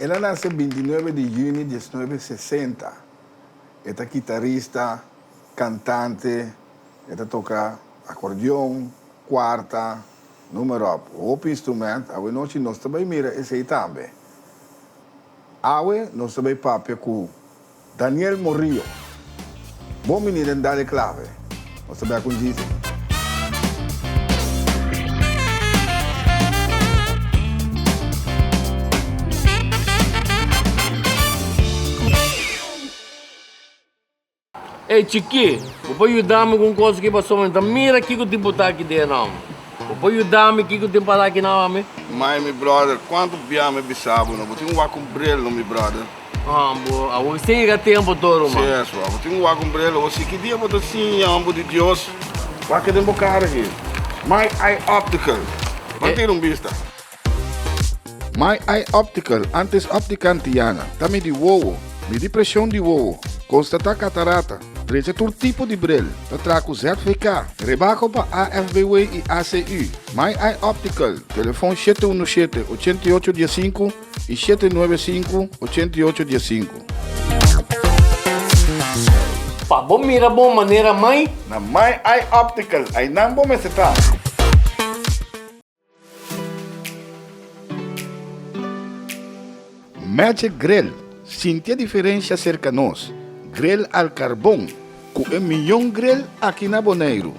El a nace binti nuebe di juni diesnuebe sesenta. E ta kitarista, kantante, e ta toka akordeon, kuarta. Numero op hopi instrument. Awe nochi nos ta bai mira esei tambe. Awe nos ta bai papia ku Daniel Morillo. Bon bini den Dale Clave. Nos ta bai akun djis. Ey chikí, bo por yuda mi ku un kos aki pa so, mami ta mira kiko tin botá aki den e nom. Bo por yuda mi kiko tin para aki na homi? Mai, mi bròder, kuantu bia mi bisa bo, no bo tin wak ku un bril, no mi bròder? Haan, bo a wak sin yega tempu tur, ruman. Si es bo, bo tin wak ku un bril, bo si ki dia bo ta siña homber di Dios. Wak den bo kar aki. Mai, ai optical. Ban tira un bista. My Eye Optical, antes Optica Antiana, ta midi wowo, midi presion di wowo, konstatá katarata, drecha tur tipo di brel, ta traha ku ZVK, rebako pa AFBW i ACU. My Eye Optical, telefon shete unu shete, ochenta i ocho dia sinku i shete nuebe sinku, ochenta i ocho dia sinku. Pa bo mira bon manera mai. Na My Eye Optical, ainan bo mester ta. Magic Grill sintia diferensha serka nos, grill al karbon ku e mion grill aki na Boneiru.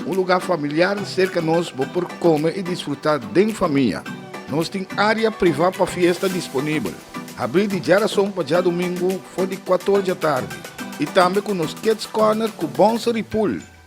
Un lugá familiar serka nos bo por kome i disfrutá den famia. Nos tin área privá pa fiesta disponibel, habrí di djarason pa djadumingu for di kuator djatardi i tambe ku nos Kids Corner ku Bonser i Pool.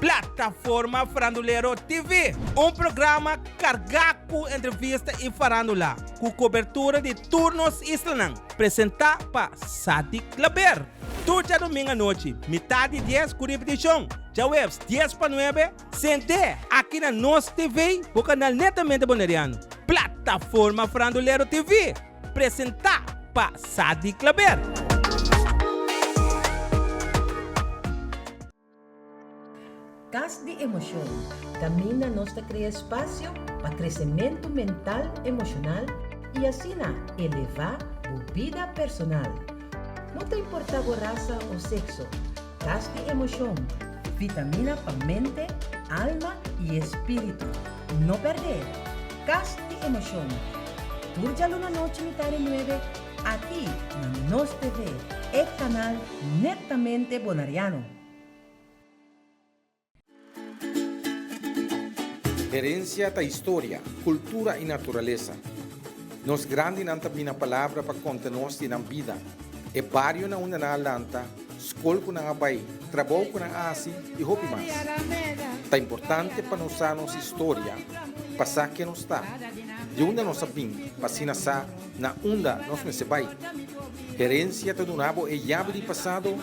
Plataforma Farandulero TV, un programa carga cu entrevista y farandula, cu cobertura di tur nos islanan, presenta pa Sadik Klaber. Tur djadomingo anochi, mitad di dies cu ripeticion, djahueves dies pa nuebe, Sent'é aki na nos TV bo kanal netamente Boneriano, Plataforma Frandulero TV, presentá pa Sadi Klaber. Kas di Emosyon, Kaminda nos ta krea spasio pa kresementu mental, emoshonal i asina elevá bo bida personal. No ta importá bo rasa o sekso. Kas di Emocion, Vitamina pa mente, alma i e spiritu. No perdé Kas di Emocion! Tur djaluna nochi mitar e nuebe aki na nos TV, e kanal netamente Bonariano. Herencia ta historia, cultura y naturaleza. Nos grandinan ta bina palabra pa conta nos di nan bida, e barionan unda nan a lanta, scol cu nan a bay, trabou cu nan a haci y hopi mas. Ta importante pa nos sa nos historia pa sa ken nos ta, di unda nos a bin pa asina sa na unda nos mester bay. Herencia ta duna bo e yabi di pasado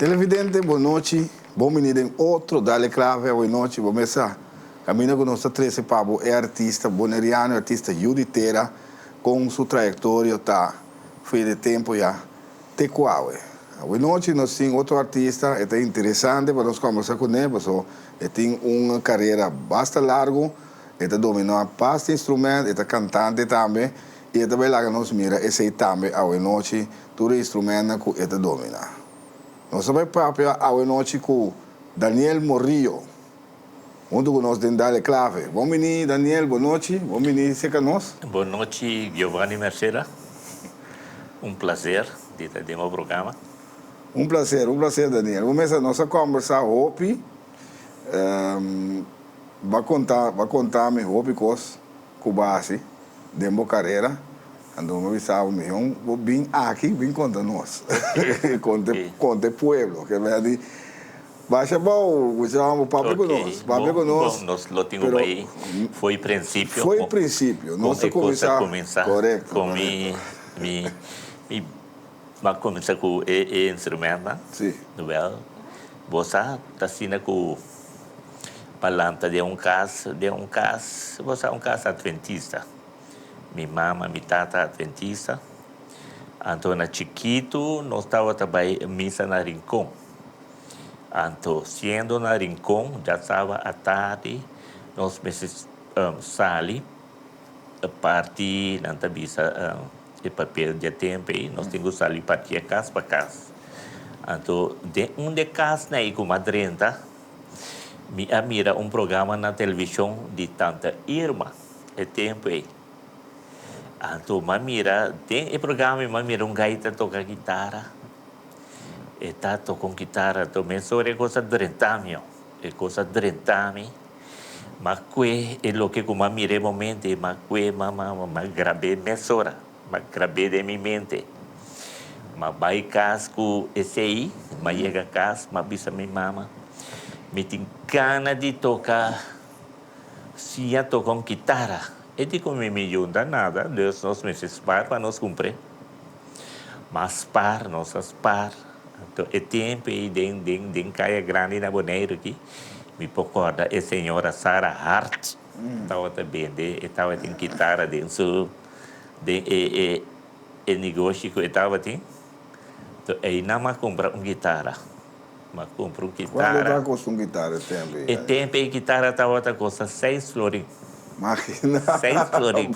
Televidente bon nochi, bon bini den otro Dale Clave awe nochi, bo mes sa caminda cu nos ta trece pa bo e artista boneriano, e artista Yudy Tera con su trayectorio ta. Fui de tempo ya. Te kuawe. Awinochi nos tin otro artista e ta interesante pa nos kombersa kuné paso e tin un karera basta largu, e ta dominá basta instrument, e ta kantante tambe i e ta bai laga nos mira esei tambe awinochi tur e instrumentnan ku e ta dominá. Nos ta bai papia awinochi ku Daniel Morillo. Huntu ku nos den dale klave. Bon bini Daniel, bon nochi. Bon bini seka nos. Bon nochi Giovanny Merceda, un plaser di ta den bo programa. Un plaser, un plaser Daniel. Bo mester nos a kombersá hopi, b'a konta, b'a konta mi hopi kos ku bo hasi den bo karera. Anto mi bisa bo mihó bo bin aki bin konta nos, konta e pueblo, ke bèrd'i. Basha bou ku se lama bo papia ku nos, papia ku nos. Bon, nos lo tin un bai foi prinsipio. Foi prinsipio, nos ta kuminsá. Kon e kosa ta kuminsá. Korekto, korekto. Kon mi ba kuminsá ku e instrumennan. Sí. Wèl, bo sa asina ku pa lanta den un kas, den un kas, bo sa un kas adventista. Mi mama, mi tata adventista. Anto na chikitu nos tabata bai misa na Rincon. Anto, siendo na Rincon, dja taba atardi, nos mester sali e parti nan ta bisa e papel dje temp ei, nos tin ku sali patia kas pa kas. Anto, den un de kas na ei ku mas drenta, mi a mira un programa na televishon di tanta Irma e tempu ei. Anto, m'a mira, den e programa ei m'a mira un gaita toka gitara. E ta toca un kitara to mes ora e cosa drentamio e cosa drentami ma kue e loke ku ma mire momente ma kue ma ma ma grabé mes ora ma grabé den mi mente ma bai kas ku esei ma yega kas ma bisa mi mama mi tin gana di toka siña toka un kitara e di ku mi mi yunta nada Dios nos mester spar pa nos kumpre Mas par, nos a spar. Anto e tempu ei den, den, den Kaya Grandi na Boneiru aki, mi por korda e señora Sara Hart tawata bende, e tawatin kitara den su, den e, e, e negoshi ku e tawatin. Anto einan m'a kumpra un kitara. M'a kumpra un kitara. Kuantu ta kosta un kitara e tempu ei? E tempu ei kitara tawata kosta seis florin. Makina, bo! Seis florin.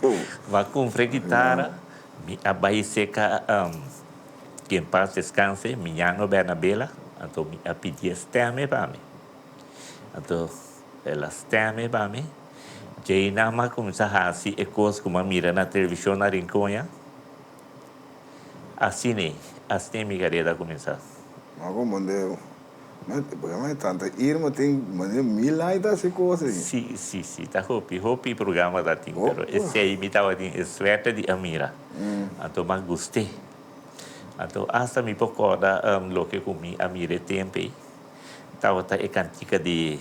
M'a kumpra e kitara. Mi a bai seca am. Ki en paz descanse, mi ña no bena bela, anto mi a pidi e steme pa mi. Anto el a steme pa mi. Djei nan mi a cuminsa haci e cos cu mi a mira na television na Rinconha. Asina ey, asina ey mi careda a cuminsa. Mago Mondeo. Programa e tanta irma tin manera mil ai ta haci cosa ahi. Si si si ta hopi hopi programa ta tin pero esei mi tabatin e suerte di a mira anto mi a guste anto hasta mi por corda loke cu mi a mira e tempo ei tabata e cantica di.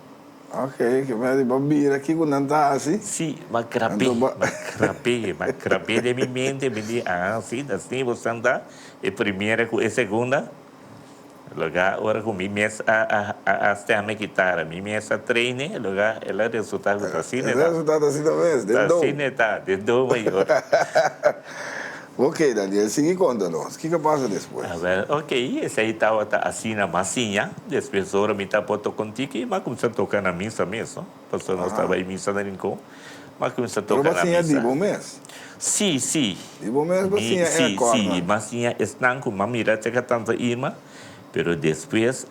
Ok, ke mi a di bo bira kiko nan ta hasi. Sí, m'a krap'é, m'a krap'é, m'a krap'é den mi mente, mi di, ah, sí, ta así bo san ta, e primera ku e segunda, loke a ora ku mi mes a, a, a stèm e kitara, mi mes a treine, loke a el a resultá ku ta asina e ta. El a resultá ta asina mes, den do. Ta asina e ta, den do mayor. Ok, Daniel, sigui konta nos, kiko a pasa despues? Ok, esei tabata asina mas siña. Despues ora mi ta por toka un tiki, mi a kumsa toka na misa mes, no? Pasobra nos ta bai misa na Rincon, mi a kumsa toka na misa. Pero bo a siña di bo mes? Sí, sí. Di bo mes bo siña e akòrnan? Sí, sí, mi a siña esnan ku mi a mira caka tanta Irma, pero despues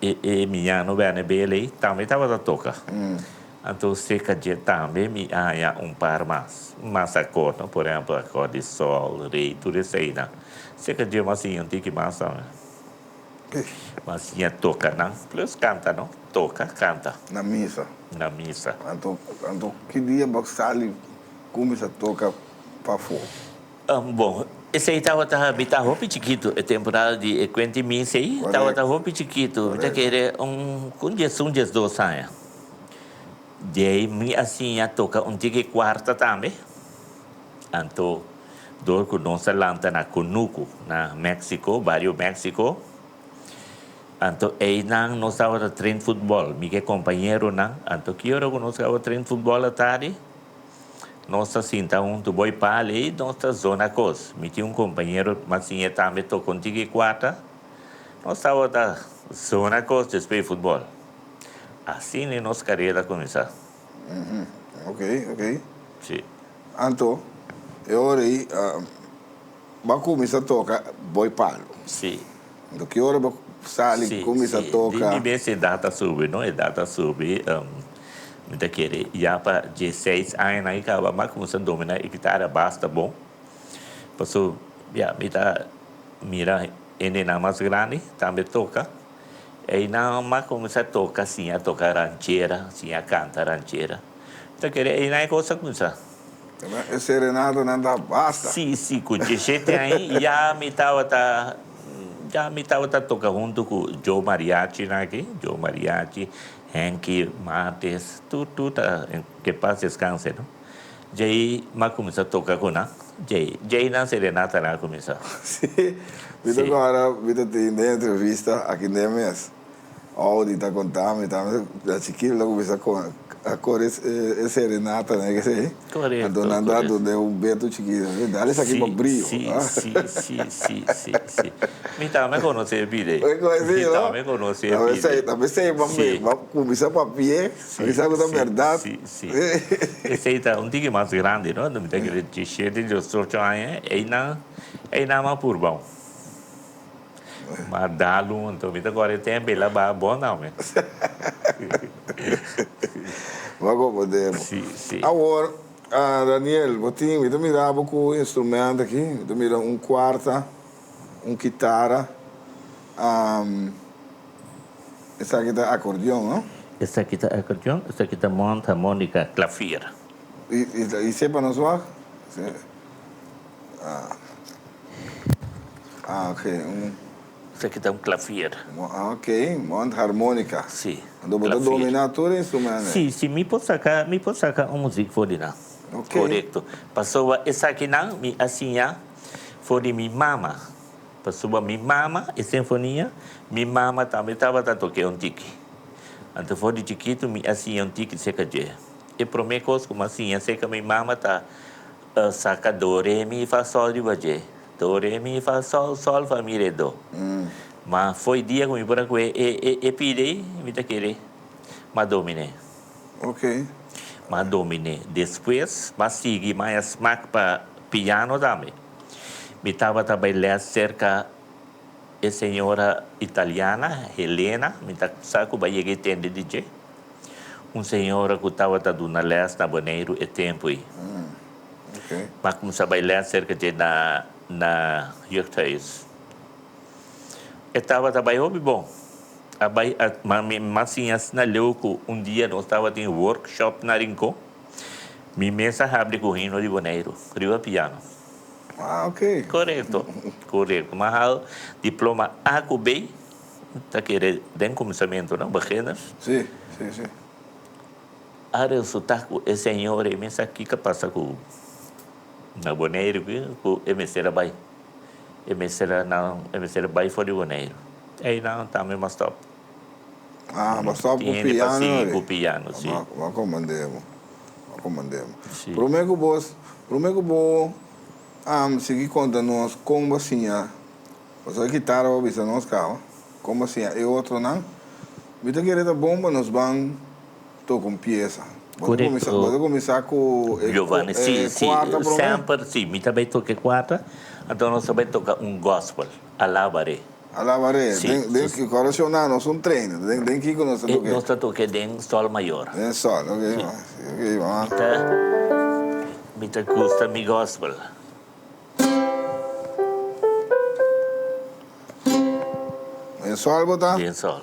e miñana no bène b'e lei, tambe tabata toka. Anto serka dje tambe mi a haña un par mas. Mas akor no, por ehempel akor di Sol, Rey, tur eseinan. Serka dje mas siña un tiki mas tambe. Mas siña toka nan, plus kanta no, toka, kanta. Na misa. Na misa. Anto, anto ki dia bo sali kuminsa toka pafó? Bon, esei tabata, mi ta hopi chikitu, e temporada di e kuenti misa ei tabata hopi chikitu. Mi ta kere un, ku un diesun, diesdos aña. Djei mi a siña toca un tiki cuarta tambe. Anto door cu nos a lanta na Cunucu, na Mexico, Barrio Mexico. Anto eynan nos tabata train futbol, mi ke compañeronan. Anto ki ora cu nos caba train futbol a tardi, nos ta sinta huntu bo e pal ey, nos ta zona cos. Mi tin un compañero mas siñe tambe toca un tiki cuarta. Nos tabata zona cos despues e futbol. Asina e nos karera kuminsá. Ok, ok. Sí. Anto, e ora ei bo a kuminsá toka boi palu. Sí. Anto, ki ora bo sali kuminsá toka? Sí, sí. Di mi bes e dat a subi, no? E dat a subi. Mi ta kere ya pa dieseis añanan i kaba, mi a kuminsá dominá e kitara basta bon. Pasobra mi ta mira hendenan mas grandi tambe toka. Einan mas cuminsa toca siña toca ranchera, siña canta ranchera. Ta kere einan e cos a cuminsa. Entonces e serenatanan ta basta. Si, si, cu dje shete aña ya mi tabata, ya mi tabata toca hunto cu Joe Mariachinan aki, Joe Mariachi, Henky Mates, tur, tur ta, en, que en paz descanse, no. Djei m'a cuminsa toca cu nan. Djei, djei nan serenatanan a cuminsa. Sí. Mi ta guarda, mi ta tin den entrevista aki nden mes. Audi ta conta mi, ta mester dja chiquito lo cuminsa a core e serenatanan e kesei. Correcto. Anto nan ta dun den un betu chiquito. Mi da esaki pa brio. Sí, sí, sí, sí, sí, sí. Mi tami a conoce e bid'ei. Mi conoce, no? Mi tami a conoce e bid'ei. Ta mester, ta mester, mami, m'a cuminsa papia, pa mi sa cu ta berdad. Sí, sí, sí. Sí. Esei ta un tiki mas grandi, no? Mi ta kere disiete, diosocho aña, einan, einan a purbao. Ma Dalu, anto mi ta kore tempo, el a baha bon tambe. Bo ko podemos. Sí, sí. Awor, Daniel, bo tin, mi ta mira bo ku instrumento aki, mi ta mira un kuarta, un kitara. Esaki ta akordeon, no? Esaki ta akordeon, esaki ta mond harmonika, klavier. Y se pa nos wak? Ah, ok. Esaki ta un klavier. Ok, mond harmonika. Si, klavier. Anto bo ta dominá tur e instrument ei? Si, si mi por saka, mi por saka un muzik for di nan. Ok. Korekto. Pasobra esakinan mi a siña for di mi mama. Pasobra mi mama e sinfonia, mi mama tambe tabata tok'é un tiki. Anto for di chikitu mi a siña un tiki cerca dj'é. E promé cos cu m'a siña cerca mi mama ta saca do, re, mi, fa, sol riba dj'é. Do, re, mi, fa, sol, sol, fa, mi, re, do. Ma fo'i dia cu mi por a cu'é e pide ei, mi ta kere m'a dominé. M'a dominé. Despues m'a sigui, m'a ya smak pa piano tambe. Mi tabata bay les cerca e señora italiana Helena, mi ta sa cu bay yega e tende di dje. Un señora cu tabata duna les na Boneiru e tempo ey. Mi a cuminsa bay les cerca dje na na Jeugdhuis. E tabata bay hopi bon. A bay a, ma mi mas siña asina leu cu un dia nos tabata in workshop na Rincon. Mi mes a habri ku un himno di Boneiru riba piano. Ah, ok. Korekto, korekto. Mi a hal diploma A ku B, ta kere den kuminsamentu, no? Beginners. Sí, sí, sí. A resultá ku e señor ei mes aki ta pasa ku na Boneiru aki ku e mester a bai. E mester a nan, e mester a bai for di Boneiru. Einan tambe mi a stòp. Ah, bo stop cu piano ri. Bo comand'e bo, bo comand'e bo. Prome cu bo, prome cu bo sigui conta nos con bo a siña, pasobra e kitara bo a bisa nos caba, con bo a siña e otronan, mi ta kere ta bon pa nos ban toca un piesa. Bo ta cuminsa cu e cuarta prome. Semper si, mi ta bay toca e cuarta, anto nos ta bay toca un gospel, Alaba Rey. Alabare. Sí. Den, den, Su- kor shon nan nos un train. Den, den kiko nos ta Eh, toke? nos ta toke den Sol Mayor. Den sol, ok. Sí. ma- Ok, ma. Mi ta, mi ta gusta mi gospel. Den sol bo ta? Den Sol.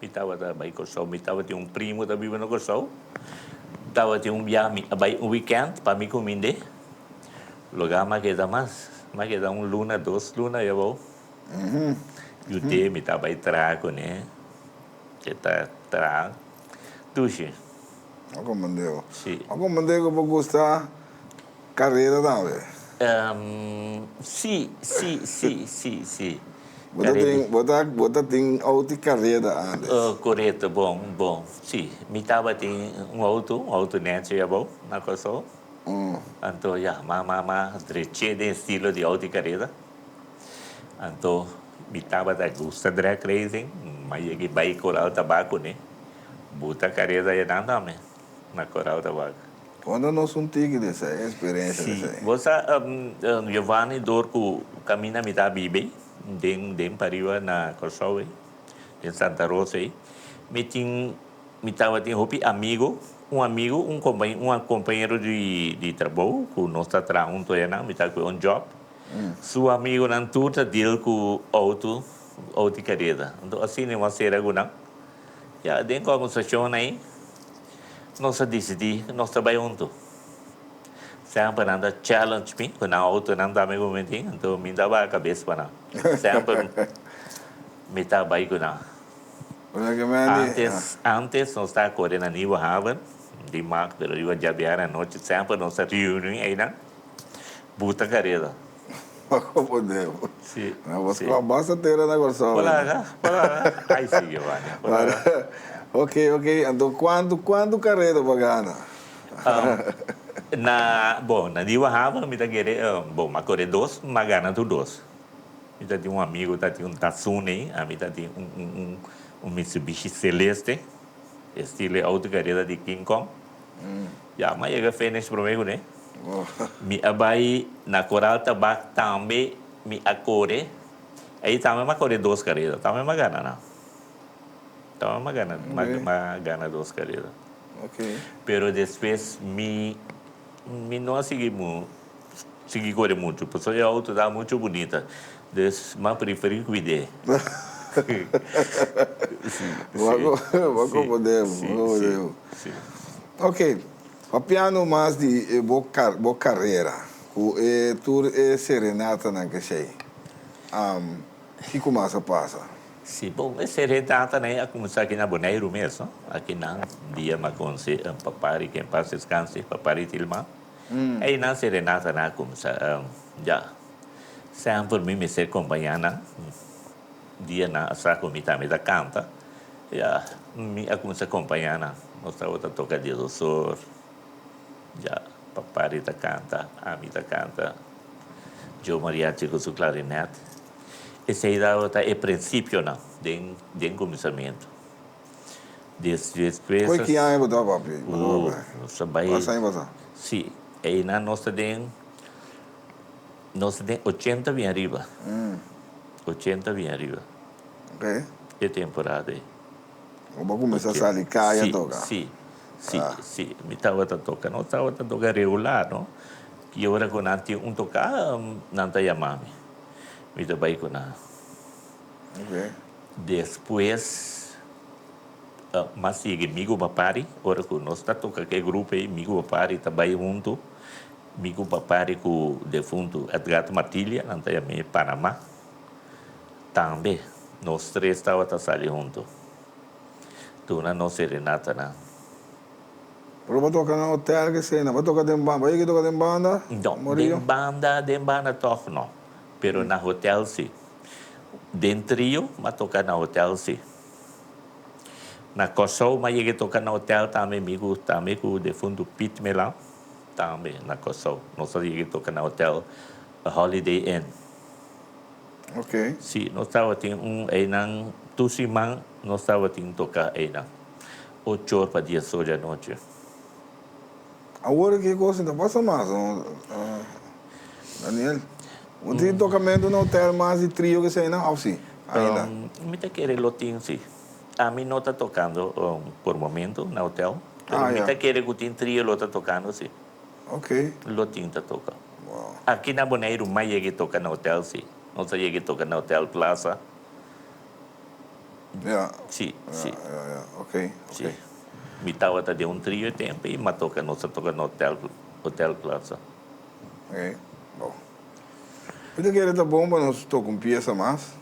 Mi tabata bai Kòrsou. Mi tabatin un primo ta biba na Kòrsou. Tabatin un biaha mi a bai un wikènt pa mi ku Mindé. Lo ga m'a keda mas. M'a keda un luna, dos luna awe abou. Yu te mi ta bai traha kuné. E ta traha dushi. Oko Mindé. Si. Oko Mindé ku bo gusta. Carrera tambe? Si, si, si, si, si. Bo ta bo ta tin auto di carrera andes? Oh, coreto, bon, bon. Si, mi tabatin un auto, un auto nechi abao na Corsou. Anto ya, ma, ma, ma dreche den estilo di auto di carrera. Anto mi tabata gusta drag racing, ma yegi bai Corral Tabaco ne. Buta carrera ya nan tambe. na Corao tabak. Konta nos un tiki di esei experencia di esei. Si, bo sa Giovanni dor ku kaminda mi ta biba ei den den pariba na Kòrsou ei, den Santa Rosa ei, mi tin mi tabatin hopi amigo, un amigo un kompa un kompañero di di trabou ku nos ta traha huntu aya nan mi ta ku'e un job, su amigonan tur ta deal ku outo outi kareda. Anto asina i wòs sera ku nan. Ya den conversacionnan ei nos a dicidi cu nos ta bay hunto. Semper nan ta challenge mi cu nan autonan ta mi bometin, enton mi ta baha cabes pa nan. Semper mi ta bay cu nan. Antes, antes nos ta core na Nieuwe Haven, di Markt, riba Javier anochi, semper nos ta reuni eynan. Buta careda. Pa componer bo. Si. Na bo scola basta tera na Corsou. Por laga, por laga. Ay si Giovanni, por laga. Ok, ok. Anto cuanto, cuanto careda bo a gana? Na, bon, na Nieuwe Haven mi ta kere, bon, m'a core dos, m'a gana tur dos. Mi ta tin un amigo ta tin un Datsun ey, ami ta tin un, un, un, un Mitsubishi Celeste, estilo e auto careda di King Kong. Ya m'a yega finish prome kuné. Mi a bai na Corral Tabak tambe mi a kore. Ei tambe m'a kore dos karera. Tambe m'a gana nan. Tambe m'a gana m'a gana dos karera. Pero despues mi mi no a sigui mu. Sigui kore muchu, pasobra e outo ta muchu bunita. Des ma priferí kuid'é. Bo a komod'é, bo a komod'é. Oke, papiando mas di e bo bo karera ku e tur e serenatanan keshei, kiko mas a pasa? Sí, bon, e serenatanan ei a kuminsá aki na Boneiru mes, no? Aki nan dia m'a konse Papari, ke en pas deskanse, Papari Tilma. Ey nan serenata nan a cuminsa ya. Sam por mi mester compaña nan. Dia nan a sa cu mi tambe ta canta. Ya, mi a cuminsa compaña nan. Nos tabata toca dies osor. Ya, papari ta canta, ami ta canta. Joe Mariachi cu su clarinet. Esey tabata e principionan den den cuminsamento. Des des presas. Koe ki aña bo ta papia? Bo ta papia aña? Nos ta bai. Pas aña pasa? Si, einan nos ta den, nos ta den ochenta bin ariba. Ochenta bin ariba. Ok. E temporada ei. Bo ba cuminsa sali caya a toca? Si, si, si, si. Mi tabata toca. Nos tabata toca regular, no? Y ora cu nan tin un tocada, nan ta yama mi. Mi ta bai cu nan. Ok. Despues mas yeg'e mi ku papari, ora ku nos ta toka ku e grupo ei, mi ku papari ta bai huntu, mi ku papari ku defuntu Edgardo Martilia, nan ta yam'e Panama, tambe nos tres tabata sali huntu duna nos serenatanan. Pero bo toka na hotel kese, bo toka den banda, bo yeg'e toka den banda? No, den banda, den banda tog no, pero na hotel si. Den Trio m'a toca na hotel si. Na Kòrsou m'a yega toca na hotel tambe mi cu tambe cu defuntu Piet Melan tambe na Kòrsou nos a yega toca na hotel Holiday Inn. Okay. Si nos tabatin un einan tur siman nos tabatin toca einan ochor pa dies or di anochi. Awor ki e cosa ta pasa mas no Daniel? Bo tin tocamento na hotel mas di trio ki esey nan of si ainda? Mi ta kere lo tin si. Ami no ta tocando por momento na hotel pero mi ta kere cu tin trio lo ta tocando si. Lo tin ta toca. Aki na Boneiru mas yega e toca na hotel si. Nos a yega e toca na hotel Plaza. Ya. Sí, sí. Ya, ya, ya. Ok, ok. Sí. Mi tabata den un trio e tempu i matoka nos a toka na hotel, Hotel Plaza. Ok, bon. Bo ta kere ta bon pa nos toka un piesa mas?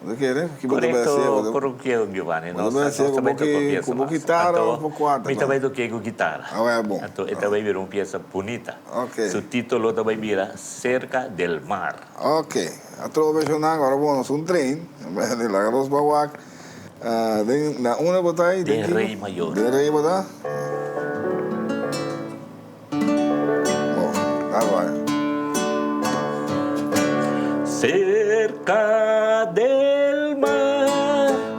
Bo ta kere? Ki bo ta bai hacié? Bo ta. Korekto, korekto, Giovanni. Bo ta bai hacié ku bo ki, ku bo gitara o bo kuarta? Mi ta bai tok'é ku gitara. Awor a bon. Anto e ta bai bira un piesa bunita. Ok. Su titulo ta bai bira Cerca del mar. Ok, a trobo besionnan ora bo nos un train den laga dos ba wak den na una bo ta ayi? Den rey mayor. Den rey bo ta? Bo, dal bay. Cerca del mar.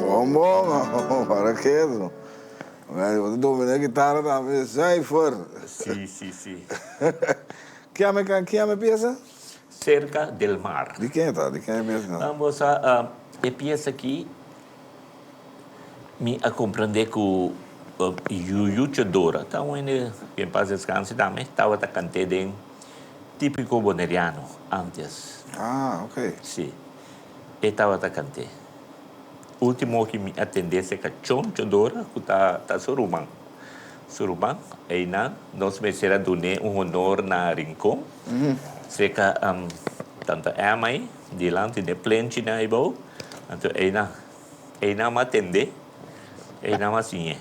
Bon bon oh para keso Bai dominé gitara tambe zuiver Si si si. Kia me can kia me piesa? Cerca del mar. Di ken e ta? Di ken e piesa? Bo sa e piesa aki mi a comprende cu Yucha Dora ta un hende que en paz descanse tambe tabata cant'e den tipico boneriano antes. Ah ok. Si. E tabata kant'é. Último oki mi a tendé se kachon chodora ku ta ta su ruman. Su ruman, einan nos mester a dun'é un honor na Rincon, seka tanta Emma ei dilanti den plenchinan eibou. Anto einan einan a tendé, einan a siñ'é.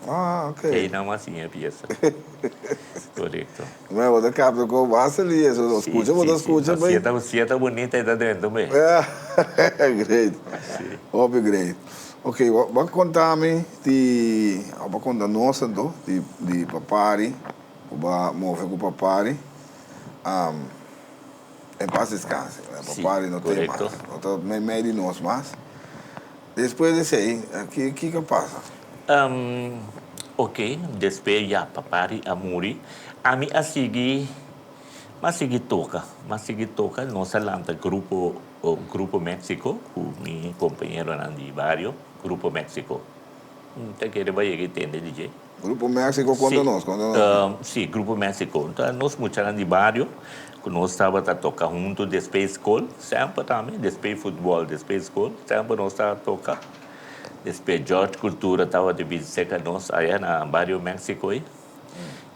Ah, ok. Ei nan mas siña e piesa. Korekto. Mira, bo ta kapta ku bo a sali eso. Si, si, si. Skucha bo ta skucha p'ei. No, si e ta bunita e ta drentu mei. Great. Si. Hopi great. Ok, bo a konta mi di, òf bo a konta nos anto, di papari, ku bo a move ku papari. E pas deskansa. Si, korekto. Papari no te mas. No ta mei mei di nos mas. Despues di esei, kiko a pasa? Umm, ok, despues ya papá di a muri, ami a sigui, m'a sigui toka, m'a sigui toka, nos a lanta grupo, Grupo Mexico, cu mi compañeronan di bario, Grupo Mexico, ta kere bayega y tende di dje. Grupo Mexico konta nos, konta nos mi. Si, si, Grupo Mexico. Ta nos muchanan di bario ku nos tabata toka huntu despe skol, semper tambe despe futbòl, despe skol, semper nos ta toka. Despe George Cultura tabata bin seka nos aya na bario Mexico ei.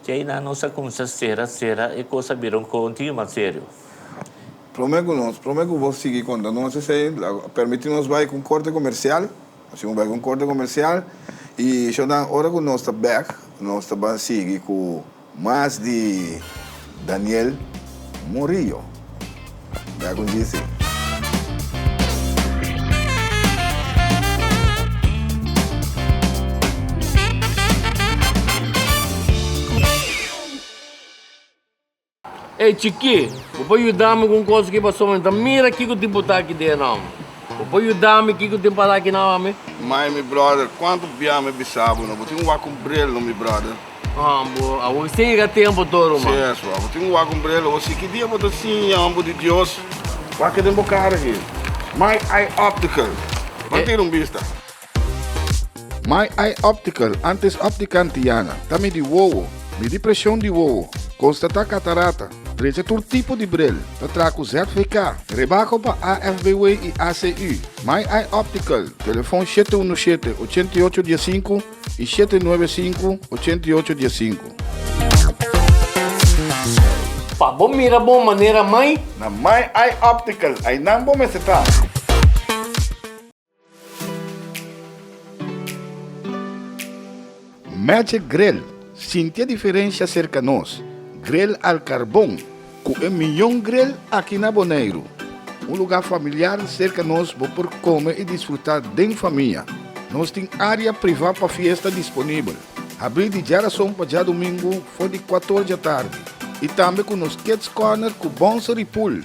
Te ainan nos a kuminsá sera, sera, e kos a bira un kontiño mas serio. Promé ku nos, promé ku bo sigui konta nos esei, permití nos bai ku un korte komersial. Asina bo bai ku un korte komersial i shor nan ora ku nos ta bèk nos ta ban sigui ku mas di Daniel Murillo. Bèk un dia esei. Ey chikí, bo por yuda mi ku un kos aki paso mi ta mira kiko tin botá aki den e nom. Bo por yuda mi kiko tin pasá aki na homi? Mai, mi bròder, kuantu bia mi bisa bo no bo tin wak un brel no mi bròder? Haan, bo a wak sin yega tempu tur ruman. Si eso, a bo tin wak un brel ho si ki dia bo ta siña homber di Dios. Wak e den bo kara aki. Mai, ai optical. Ban tira un bista. My Eye Optical, antes Optica Antiana, ta midi wowo, midi presion di wowo, konstatá katarata, drecha tur tipo di brel, ta traha ku ZVK, rebako pa AFBW i ACU. My Eye Optical, telefon shete unu shete, ochenta i ocho dia sinku i shete nuebe sinku, ochenta i ocho dia sinku. Pa bo mira bon manera mai. Na My Eye Optical, ainan bo mester ta. Magic Grill sintia diferensha serka nos, grill al karbon ku e mion grill aki na Boneiru. Un lugá familiar serka nos bo por kome i disfrutá den famia. Nos tin área privá pa fiesta disponibel, habrí di djarason pa djadumingu for di kuator djatardi i tambe ku nos Kids Corner ku Bonsery Pool.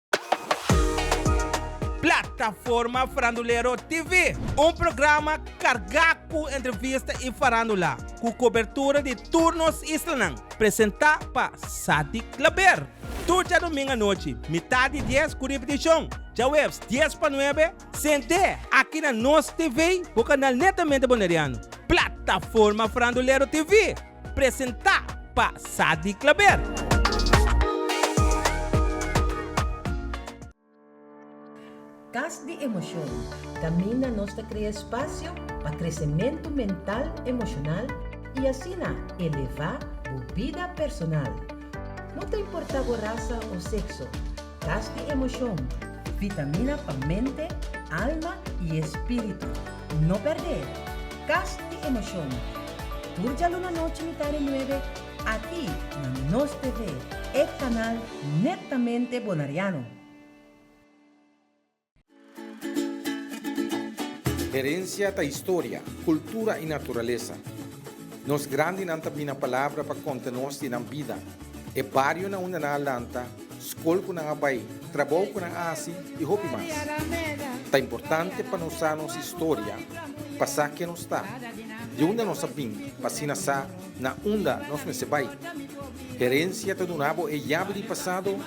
Plataforma Farandulero TV, un programa carga cu entrevista y farandula, cu cobertura di tur nos islanan, presenta pa Sadik Klaber. Tur djadomingo anochi, mitad di dies, cu ripeticion djahueves dies pa nuebe. Sent'é aki na nos TV bo kanal netamente Boneriano, Plataforma Frandulero TV, presentá pa Sadi Klaber. Kas di Emosyon, Kaminda nos ta krea spasio pa kresementu mental, emoshonal i asina elevá bo bida personal. No ta importá bo rasa o sekso. Gas di emocion, vitamina pa mente, alma y espiritu. No perde! Gas di emocion. Tur dja luna nochi mitá di nuebe, aki na Nos TV, e canal netamente Bonariano. Herencia ta historia, cultura y naturaleza. Nos grandinan ta bina palabra pa conta nos di nan bida, e barionan unda nan a lanta, scol cu nan a bay, trabou cu nan a haci y hopi mas. Ta importante pa nos sa nos historia pa sa ken nos ta, di unda nos a bin pa asina sa na unda nos mester bay. Herencia ta duna bo e yabi di pasado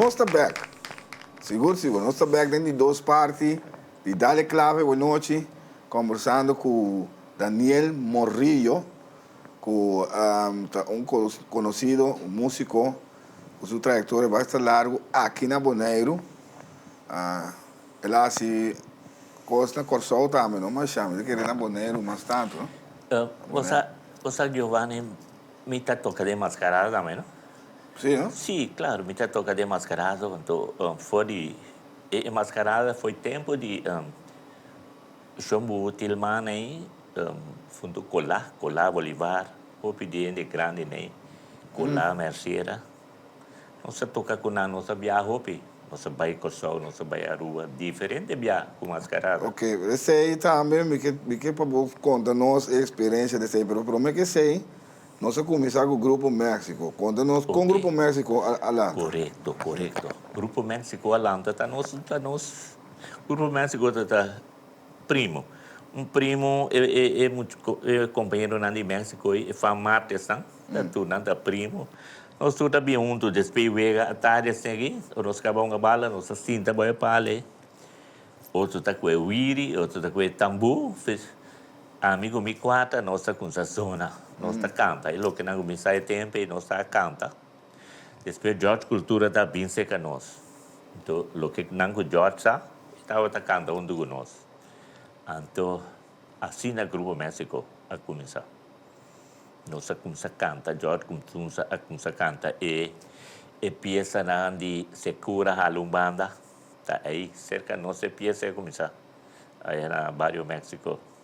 Nos ta bek! Sigur sigur, nos ta bek den di dos parti di Dale Clave Buenochi, combersando cu Daniel Morillo. cu ta un conocido, un musico cu su trayectoria basta largo aki na Boneiru. El a haci cos na Corsou tambe no, ma sha mi ta kere na Boneiru mas tanto no. Bo sa, bo sa Giovanni, mi ta toca den Mascarada tambe no. Si no? Si, claro, mi ta toca den Mascarada, for di e Mascarada foi tempo di. Shon bu til man ei huntu Cola, Cola Bolivar, hopi di hende grandi nei Cola Mercera. Nos a toca cu nan, nos a biaha hopi, nos a bay Corsou, nos a bay Aruba, diferente biaha cu Mascarada. Ok, esey tambe mi ke mi ke pa bo conta nos e experiencia di esey, pero prome ke esey nos a cuminsa cu Grupo Mexico, conta nos con Grupo Mexico a a lanta. Corecto, corecto. Grupo Mexico a lanta ta nos ta nos Grupo Mexico ta primo. Un primo e compañeronan di Mexico e Fan Marquez nan. Tur nan ta primo. Nos tur ta bin huntu despe wega atari asegi. Ora nos caba hunga bala nos ta sinta bo e pale. Otro ta cu e wiri, otro ta cu e tambu. Ami cu mi cuata nos ta cunsha zona. Nos ta canta. E lokenan cu mi sa e tempo nos ta canta. Despues George Cultura ta bin seca nos. Anto loke nan cu George sa e tabata canta hunto cu nos. Anto asina Grupo Mexico a cuminsa. Nos a cuminsa canta George cuminsa a cuminsa canta e e piesanan di Secura hala un banda ta ahi cerca nos e piesa a cuminsa ahi na Barrio Mexico.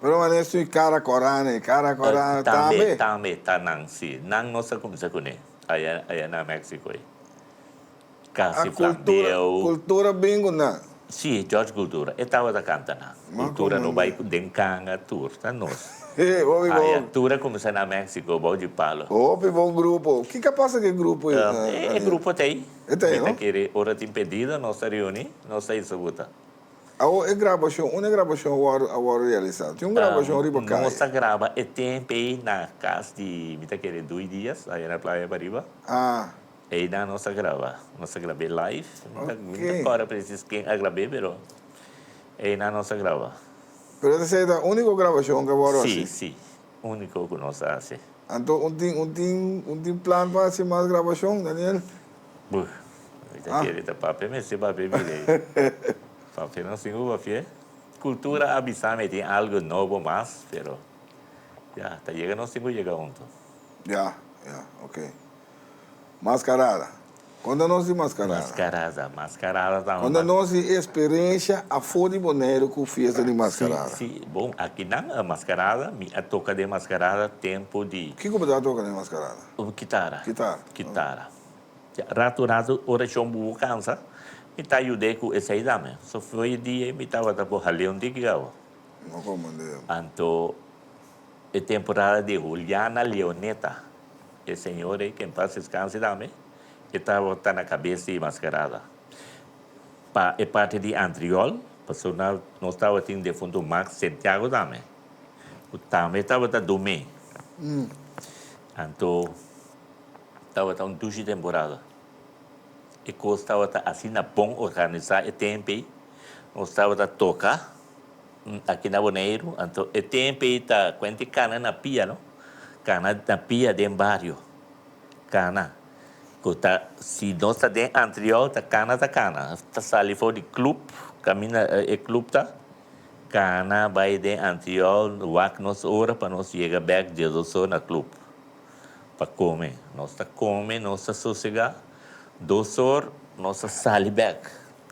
Pero manera su e cara corane, e cara corane tambe. Tambe ta nan si, nan no sa cuminsa cune aya aya na Mexico ey. Casi flambieu. A cultura bin cu nan. Si, George Cultura e tabata canta nan. Cultura no bay den canga tur ta nos. Aya tur a cuminsa na Mexico bao dje palo. Hopi bon grupo. Kica pasa cu e grupo ey? E grupo ta ey. E ta ey no? Mi ta kere ora tin pedido nos ta reuni, nos ta ysa buta. Awor e grabashon, unda e grabashon a wòrdu realisá? Tin un grabashon riba kai. Nos a graba e temp ei na kas di, mi ta kere Dui Diaz, ayer na playa pariba. Ah. Einan nos a graba. Nos a grab'é live. Mi ta, mi no ta kòrda presis ken a grab'é, pero einan nos a graba. Pero esa ta ser ta úniko grabashon ku a wòrdu hasi? Sí, sí. úniko ku nos a hasi. Anto un tin un tin un tin plan pa hasi mas grabashon, Daniel? Buh, mi ta kere ta papia mester papia bira ei. Papia nos tin ku papia. Kultura a bisa mi e tin algu nobo mas, pero ya ta yega nos tin ku yega huntu. Ya, ya, oke. Mascarada. Con ta nos di mascarada? Mascarada, mascarada ta un. Con ta nos di experiencia afo di Boneiru cu fiesta di mascarada? Si, si, bon, akinan a mascarada, mi a toca den mascarada tempo di. Kico bo ta toca den mascarada? Kitara. Kitara. Kitara. Ya, rato, rato ora John Bubo cansa, mi ta yud'e cu esey dame. So, foye di ey mi tabata por haleon di gigabo. No como deo. Anto. E temporada di Juliana Leoneta, e señor ei, ke en pas descanse tambe, e tabata ta na cabes di Mascarada. Pa e parti di Antriol, pasobra nan, nos tabatin defuntu Max Santiago tambe, ku tambe tabata dum'é. Anto, tabata un dushi temporada. E kos tabata asina bon organisa e temp ei. Nos tabata toka. Aki na Boneiru anto e tempe ei ta kuent di kana na pia no. Kana na pia den bario. Kana ku ta si nos ta den antriou ta kana ta kana. Ta sali for di club kaminda e club ta kana bai den antriou wak nos ora pa nos yega bek dies dos ora na club pa kome. Nos ta kome nos ta sosega dos or nos ta sali bek.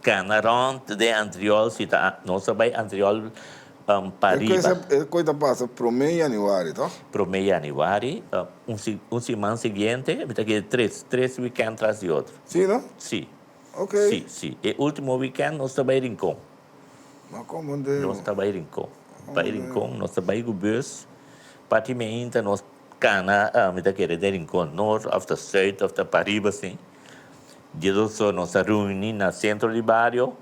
Cana rond den antriol si ta nos ta bay antriol pa riba. E coy ta pasa prome januari toch? Prome januari un siman siguiente mi ta kere tres tres weekend tras di otro. Si no? Si. Ok. Si si e ultimo weekend nos ta bay Rincon. Ma como deno? Nos ta bay Rincon bay Rincon nos ta bay cu bus parti mainta nos cana mi ta kere den Rincon Noord of ta Zuid of ta pa riba sin. Dia doso nos a reuni na sentro di bario,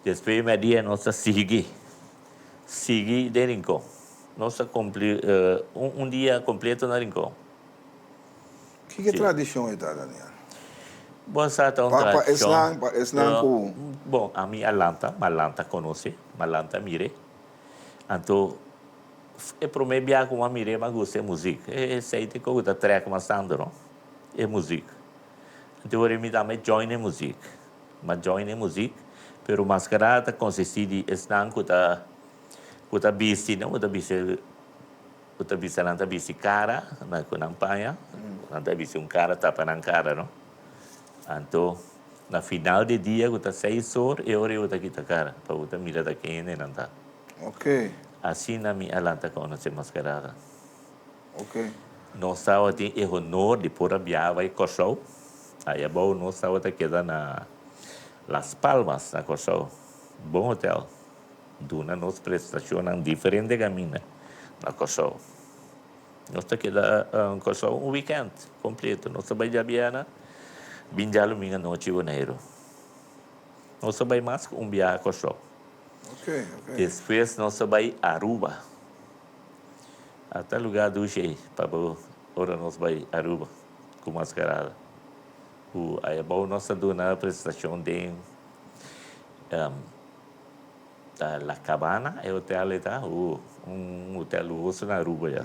despues di media nos a sigui sigui den Rincon. Nos a cumpli un dia completo na Rincon. Kiko e tradicion ei ta Daniel? Bo sa ta un tradicion. Pa esnan cu. Bon, ami a lanta, m'a lanta conoci, m'a lanta mire. Anto e prome bia cu m'a mire m'a gusta e muziek. Esei t'e coco ta trek m'a Sandro, e muziek. Anteori mi tambe join e muzik. M'a join e muzik, pero mas ke nada ta konsistí di esnan ku ta ku ta bisti, no, ku ta bisti ku ta bisti nan ta bisti kara na ku nan paña, nan ta bisti un kara tapa nan kara, no. Anto na final di dia ku ta seis or e ora yo ta kita kara pa bo ta mira ta ke hende nan ta. Asina mi a lanta konosé Maskarada. Nos tabatin e honor di por a biaha bai Kòrsou. Ai abou nos tabata keda na Las Palmas na Kòrsou. Bon hotèl. Duna nos prestashonnan diferente kaminda na Kòrsou. Nos ta keda Kòrsou un wikènt kompleto. Nos ta bai djabièrnè, bin dja lumingu anochi Boneiru. Nos ta bai mas ku un biaha Kòrsou. Despues nos ta bai Aruba. A ta lugar dushi ei pa bo ora nos bai Aruba cu Mascarada cu ayabao nos ta duna presentacion den ta La Cabana e hotel ei ta ooh un hotel luhoso na Aruba ya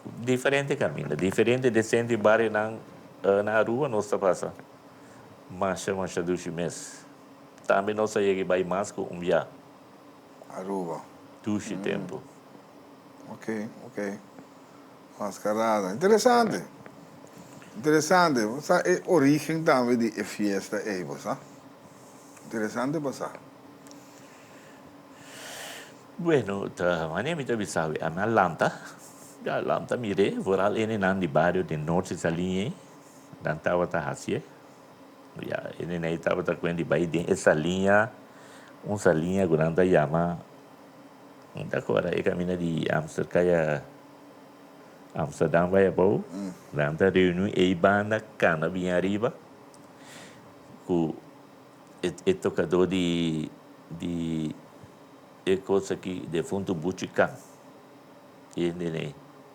cu diferente caminda diferente decente e barionan na Aruba nos ta pasa masha masha dushi mes tambe nos a yega e bai mas cu un bia. Aruba. Dushi tempu. Ok, ok. Mascarada. Interesante. Interesante. Bo sa e origen tambe di e fiesta ei, bo sa? Interesante pasa. Bueno, ta mane mi ta bisa awe. Ami a lanta. Mi a lanta mir'e vooral enenan di bario den Noordse Saline ei, nan tabata hasi'e. Ya, e nenei tabata kuen di bai den e salinha, un salinha ku nan ta yama, mi ta kora e kaminda di Amster kaya Amsterdam bai abou, nan ta reuni ei banda kana bien ariba, ku e e tokadó di di e kos aki, defuntu Buchi Kan, e nenei.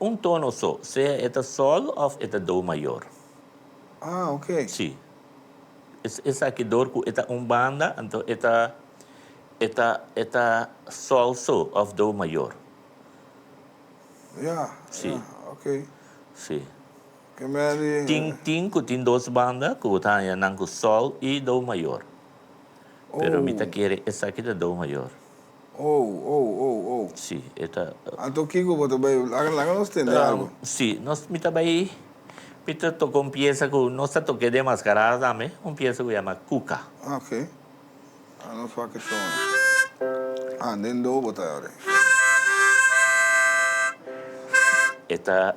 Un tono so, sea e ta sol of e ta do mayor. Ah, ok. Sí. Es, esaki dor cu e ta un banda, anto e ta, e ta, e ta sol so of do mayor. Ya, Sí. ya, ok. Sí. Ke mea di. Tin, tin cu tin dos banda cu bo ta haña nan cu sol y do mayor. Pero mi ta Oh. kere esaki ta do mayor. Oh, oh, oh, oh. Sí, e ta. Anto kiko bo ta bai? Laga, laga nos tende algo. Um, sí, nos, mi ta bai, mi ta toka un piesa ku nos ta toka e demaskarada tambe, un piesa ku yama Kuka. Ah, ok. Ah, nos wak e son. Ah, den do bo ta ora ei. E ta.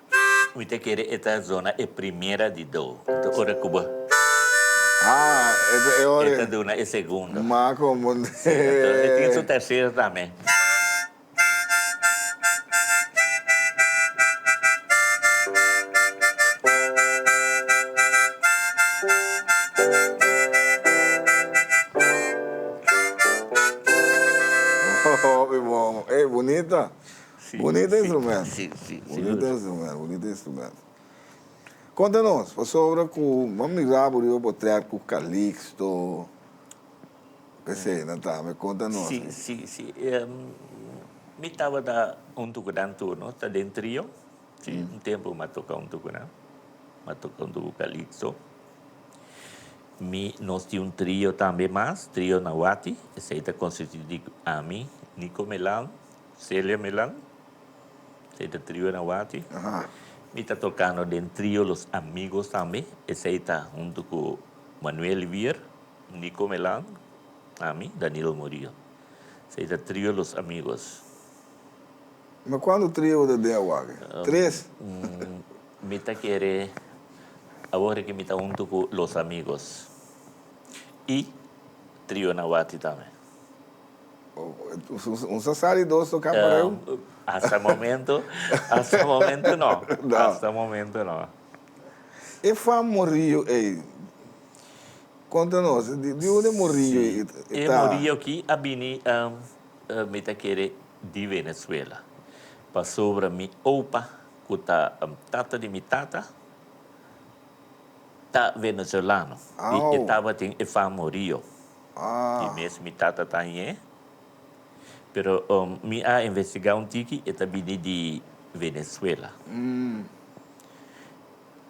Mi ta kere e ta zona e primera di do. Ta ora ku bo. Ah, e ta e ora. E ta duna e segundo. Ma komo. Si, entonse e tin su tercero tambe. Hopi bon. Ey, bunita. Bunita instrumento. Sí, sí, sí. Bunita instrumento, bunita instrumento. Conta nos, pasobra cu bo a mira bo riba bo track cu Calixto, p'esei nan tambe. Conta nos. Sí, sí, sí. Mi tabata un tucunan tur, no? Ta den trio. Sí, un tempo mi a toca un tucunan. Mi a toca un tucu Calixto. Mi, nos tin un trio tambe mas, Trio Nahuati. Esei ta constitui di ami, Nico Melan. Celia Milan, esey ta trio Anawati. Mi ta tocando den trio Los Amigos tambe, esey ta hunto cu Manuel Wier, Nico Milan, ami, Danilo Murillo. Esey ta trio Los Amigos. Ma cuando trio ta den awaki? Tres? Mi ta kere awor ki mi ta hunto cu Los Amigos y trio Anawati tambe. Un sa sa di dos toká pareu? Hasta momentu, hasta momentu no. No. Hasta momentu no. E famorio ei, konta nos, di di unda e morio ei ta? Si, e morio ki a bini, mi ta kere, di Venezuela. Pasobra mi opa, ku ta tata di mi tata, ta venezolano. Au! I e tabatin e famorio. Di mes mi tata ta añe. Pero mi a investigá un tiki, e ta bini di Venezuela.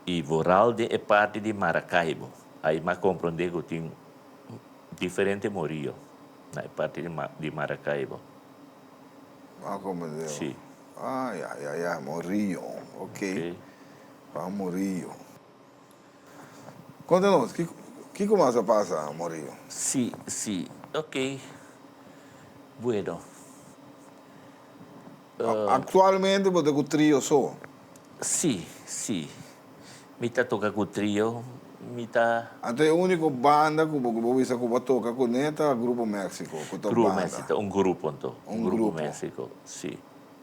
I vooral den e parti di Maracaibo. Ai m'a komprondé ku tin diferente morio na e parti di di Maracaibo. M'a komprondé. Sí. Ah, ya, ya, ya. Morio. Oké. Oké. Juan Murillo. Konta nos, kiko mas a pasa, Morio? Sí, sí. Ok. Bueno. Aktualmente bo ta ku trio so? Sí, sí. Mi ta toka ku trio. Mi ta. Anto e úniko banda ku bo bisa ku bo a toka kuné ta Grupo Méksiko, ku ta un banda? Grupo Méksiko ta un grupo anto. Un grupo. Grupo Méksiko, sí.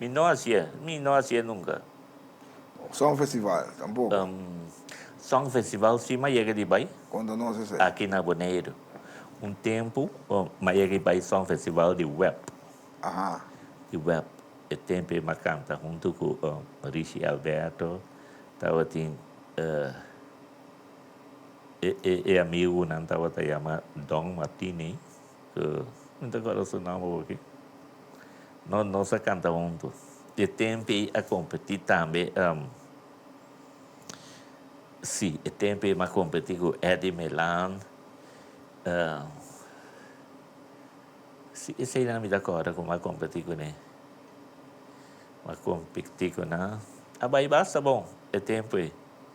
Mi no a hasié. Mi no a hasié nunka. Songfestival, tampoco. Songfestival si m'a yega di bai. Konta nos esei. Aki na Boneiru. Un tempu m'a yega di bai songfestival di web. Aha. Di web. E tempe m'a kanta huntu ku Richie Alberto. Tabatin e amigu nan tabata yama Don Martini. Cu mi ta guarda su nomber aki. No, nos a canta hunto. Y e tempi ei a competi tambe, ehm, si, e tempi ei mi a competi cu Eddy Milan, ehm, si, esey nan mi ta corda cu mi a competi cu ne. Mi a competi cu nan. A bai basta bon e tempo ei.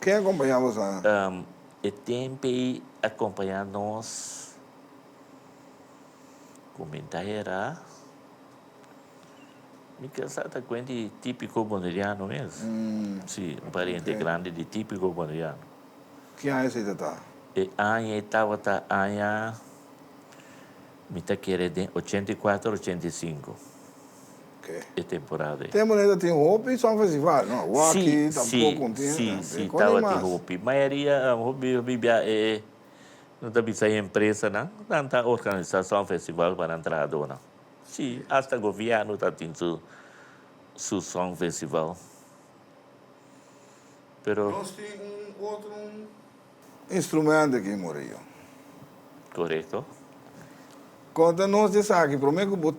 Ken a kompañá bo sa? E tempei a kompañá nos ku mintahera. Mi ka sa ta kuen di típiko Boneriano mes. Sí, un pariente grandi di típiko Boneriano. Ki aña esei ta ta? E aña ei tabata aña, mi ta kere den ochenta i kuater, ochenta i sinku. e temporada ei. Tempo neda tin hopi San Festival, no? Waki tampoco tin. Sí, sí, sí, taba tin hopi. Mayoria, hopi, hopi bia e, no ta bisa e empresanan, nan ta organisa San Festival pa nan trahadonan. Sí, hasta gobierno ta tin su, su San Festival. Pero. Nos tin un otro. Instrumento ki morió. Correcto. Conta nos di esaki, prome cu bo,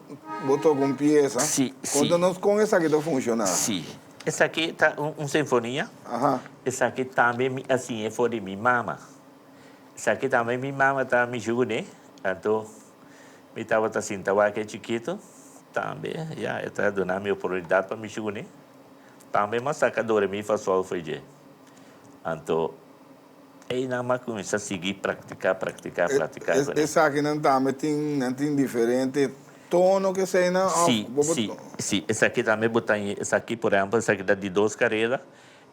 bo toca un pieza, Si, si. conta nos con esaki ta funciona. Si. Esaki ta un, un sinfonia. Aha. Esaki tambe mi a siña for di mi mama. Esaki tambe mi mama ta mi juguné, anto mi tabata sinta wak e chikito, tambe, ya, e ta duna mi oportunidad pa mi juguné. Tambe mas saca doremi fa solfege. Anto, einan m'a kuminsá sigui praktiká, praktiká, praktiká kuné. Esakinan tambe tin, nan tin diferente tono ku eseinan òf Sí, bo bo sí, to. sí, esaki tambe bo ta oí esaki, por ehèmpel esaki ta di dos kareda,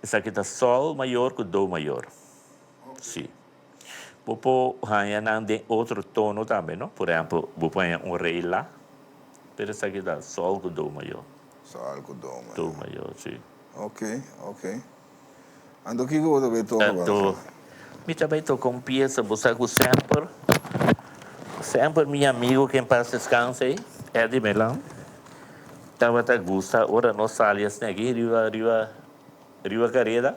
esaki ta sòl mayor ku do mayor. Sí. Bo por haña nan den otro tono tambe, no? Por ehempel, bo por haña un rey la, pero esaki ta sol cu do mayor. Sol cu do mayor. Do mayor, si. Ok, ok. Anto kico bo ta bay toca awor, Rafael? Mi ta bay toca un pieza, bo sa cu semper, semper mi amigo que en paz descanse ey, Eddie Melan, tabata gusta ora nos sali asina aki riba, riba, riba careda,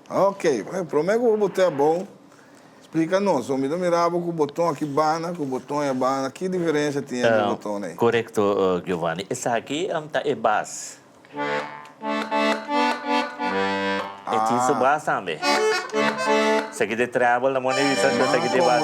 Ok, prome ku bo te abou, splika nos, bo mi ta mira bo ku boton aki banda, ku boton ya banda, ki diferensia tin entre boton ei? Korekto Giovanni, esaki ta e bas. E tin su bas tambe. Esaki ta e treble, ta mor na e bisa ku esaki ta e bas.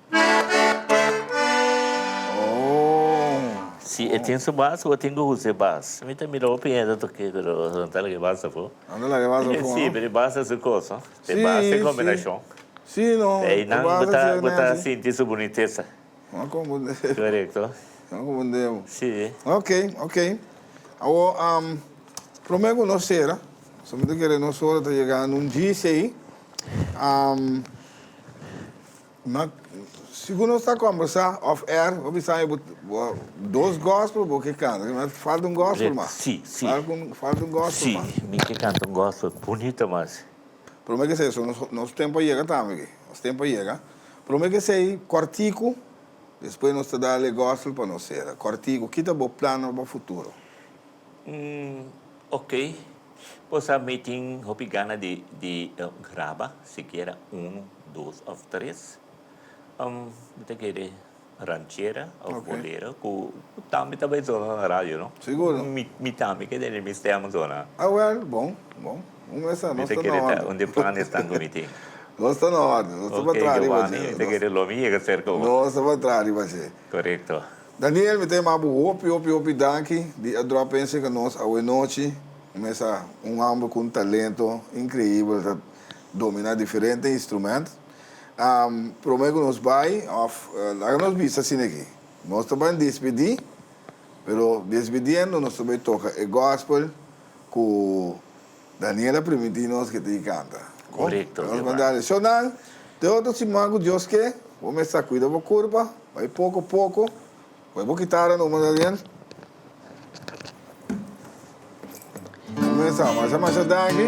Si e tin su bas cu a tin cu husi e bas. Mi ta mira hopi hende toke pero no ta laga e bas afo. No ta laga e bas afo. Si, pero e bas ta su cos, no? Si, si. E bas ta e combinacion. Si, no. E bas ta si nan bo ta, bo ta sinti su bunitesa. No a confunde bo. Corecto. No a confunde bo. Si. Ok, ok. Awo, prome cu nos cera, so mi ta kere nos ora ta yega na un djis ey. Nan, si bo no sa combersa off air bo bisa mi bo bo dos gospel bo ke canta me falta un gospel mas si si falta un gospel si mas mi ke canta un gospel bonito mas prome ke se nos nos tempo a yega tambe aki nos tempo a yega prome ke se cortico despues nos ta dale gospel pa nos cera cortico kita bo plan nan pa futuro. Ok pues a mi tin hopi gana di di graba sikiera uno dos of tres um mi ta kere ranchera of Ok. bolero ku ku tambe ta bay zona na radio no Seguro. mi mi tambe ke tene mi stem zona Ah well bon bon un mes a mi nos ta ta kere na ta un orde de planes tan ku mi tin nos ta na orde nos ta ok pa traha riba Giovani mi ta dje kere lo mi yega serka bo nos ta pa traha riba dje. korekto. Daniel, mi ta yama bo hopi, hopi, hopi danki di a drop in acerca nos awe nochi. Mesa un homber cu un talento increibel, ta domina diferente instrument. Prome cu nos bay, of laga nos bisa asineki, nos ta bay despedi, pero despediendo nos ta bay toca e gospel cu. Daniela primiti nos ke tin kanta. Ko? Korekto, Nos manda Jehová. So nan, te otro siman ku Dios ke, bo mes ta kuida bo kurpa, bai poko poko. Kue bo kitara numa, Daniel. Bo mes ta masha masha danki.